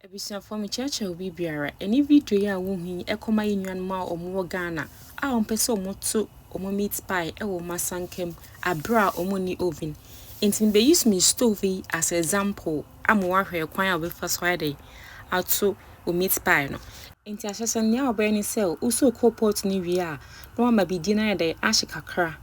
Abusuafoɔ mekyerɛkyerɛ obi biara ɛne video yi a wo hu yi ɛkɔma yɛ nuanom a ɔmo wɔ Ghana a ɔmo pɛ sɛ ɔmo to ɔmo meat pie ɛwɔ ɔmo asanka mu aberɛ a ɔmo nni oven nti me bɛ use me stove yi as example ama w'ahwɛ ɛkwan a wo bɛfa so ayɛ dɛn ato wo meat pie no nti ahyɛsɛ nea wo bɛyɛ ne sɛ wo sɔ coal pot no wie a na w'ama bidie no ayɛ dɛn ahye kakra.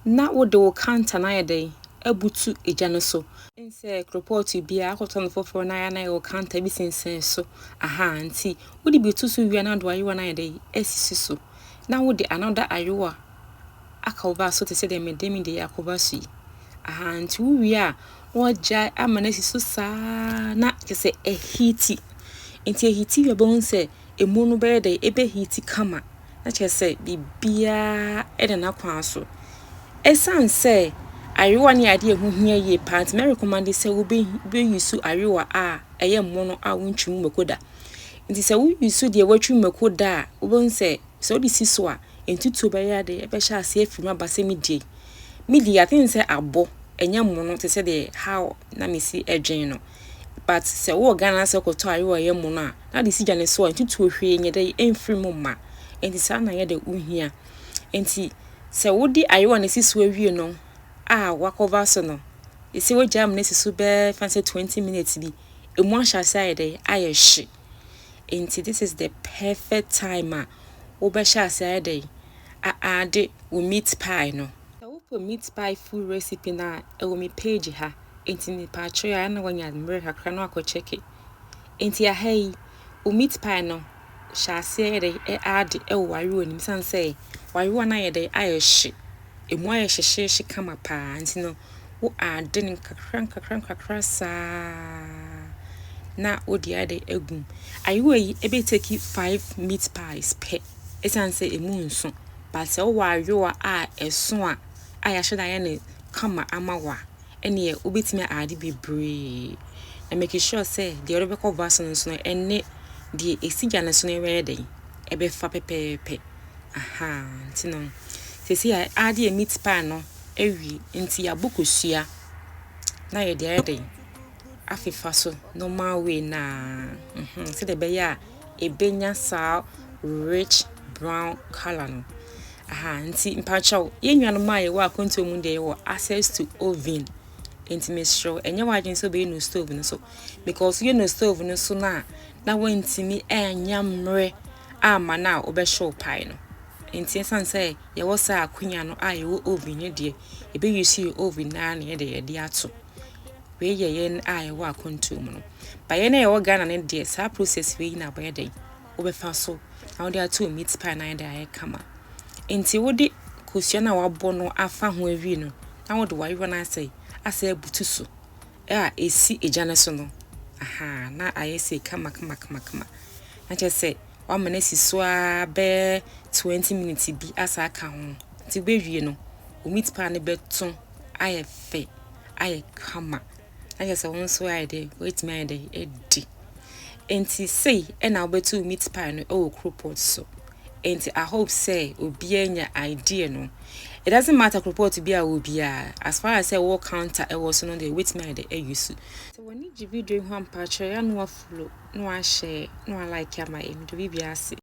na wode wo kantan ayɛ dɛn abutu gya no so? Ɛnsɛ koropɔɔto biara, akɔtɔ no foforɔ na ayɛ na ayɛ wo kantan bi sensɛn so, ahaa, nti wode bi to so wie a na wode w'ayowa no ayɛ dɛn asisi so, na wode another ayowa akɔva so te sɛ deɛ mede me deɛ akɔva so yi, ahaa, nti wowie a na woagyae ama no asi so saa ara na kyerɛ sɛ ɛhiti, nti ɛhiti wie a wobɛhu sɛ ɛmu no bɛyɛ dɛ ɛbɛhiiti kama na kyerɛ sɛ biribiara da n'akwan so. Ɛsiane sɛ ayowa no yɛ adeɛ a ɛho hia yie paa nti, mɛrekomande sɛ wobɛyusu ayowa a ɛyɛ mmono a wontwi mu mako da. Nti sɛ woyusu deɛ wɔatwi mu mako da a, wobɛhu sɛ sɛ wode si so a, ntutuo bɛyɛ ade ɛbɛhyɛ aseɛ afiri mu aba sɛ medie. Medie a, I think sɛ abɔ ɛnyɛ mmono te sɛ deɛ how na mesi dwen no. but sɛ wowɔ Ghana na sɛ wokɔtɔ a yɛ a ɛyɛ mono a, na wode si gya no so a, ntutuo hwee nyɛ dɛ ɛmfiri mu mma. Enti saa na yɛ dɛ wohia. Enti sɛ wode ayewa no si so awie no a woakɔva so no, ɛsɛ sɛ wogyae ma no asi so bɛyɛ fa sɛ 20 minutes bi. Ɛmu ahyɛ ase ayɛ dɛ ayɛ hye. Enti this is the perfect time a wobɛhyɛ ase ayɛ dɛ aade wo meat pie no. Sɛ wopɛ meat pie full recipe no a, ɛwɔ me page ha. Enti ne paakye a na wanya mmerɛ kakra no akɔ kyɛke. Enti aha yi, wo meat pie no hyɛ aseɛ yɛ dɛ aade wɔ w'ayewa no mu sane sɛ w'ayewa no ayɛ dɛ ayɛ hye. Ɛmu ayɛ hyehyeehye kama paa nti no wo aade no nkakra nkakra nkakra saa na wode ayɛ dɛ agu mu. Ayewa yi ɛbɛ take five meat pies pɛ ɛsiane sɛ ɛmu nso but sɛ wowɔ ayewa a ɛso a a yɛahyɛ dɛ ayɛ no kama ama wo a, ɛnneɛ wobɛtumi ayɛ ade bebree. Na make sure sɛ deɛ wode bɛkɔ bus no nso no, ɛne deɛ ɛsi gya no so no bɛyɛ dɛn? Ɛbɛfa pɛpɛɛpɛ. Ahaa, nti no, seesei a ade yɛ meat pie no awie, nti yɛabɔ kosua na yɛde ayɛ dɛn? afefa so normal way no ara mm-hmm sɛdeɛ ɛbɛyɛ a ɛbɛnya saa rich brown colour no aha nti mpakyɛw yɛn nuanom a yɛwɔ akwantuo mu deɛ yɛwɔ access to oven nti mesrɛ wo ɛnyɛ w'adwene sɛ wobɛyɛ no stove no so because yɛ no stove no so no a na woantumi ɛnya mmerɛ ama no a wobɛhyew pae no nti ɛsiane sɛ yɛwɔ saa akonya no a yɛwɔ oven no deɛ yɛbɛyi so yɛ oven no ara na yɛde yɛde ato Wei yɛ yɛn a yɛwɔ akwantuo mu no. Ba yɛn a yɛwɔ Ghana no deɛ saa process wei na wɔyɛ dɛn wobɛfa so na wode ato meat pie na ayɛ dɛ ayɛ kama. Nti wode kosua no a wabɔ no afa ho awie no na wode wayewa no asɛ asɛ abutu so a ɛsi egya no so no ahaa na ayɛ sei kama kama kama kama na kyerɛ sɛ wama no asi so ara bɛyɛ 20 minutes bi asa aka ho nti wobɛwie no wo meat pie no bɛto ayɛ fɛ. ayɛ kama na kyerɛ sɛ wo nso ayɛ dɛ woatumi ayɛ dɛ adi nti sei ɛna wobɛtu meat pie no ɛwɔ kropɔt so nti i hope sɛ obiara nya idea no it doesn't matter kropɔt bi a wɔ biara as far as sɛ wɔ counter ɛwɔ so no deɛ wobɛtumi ayɛ dɛ ayi so sɛ w'ani gye video ho ampa kyerɛ yɛ na wafollow na wahyɛ na walike ama yɛ mede biribiara ase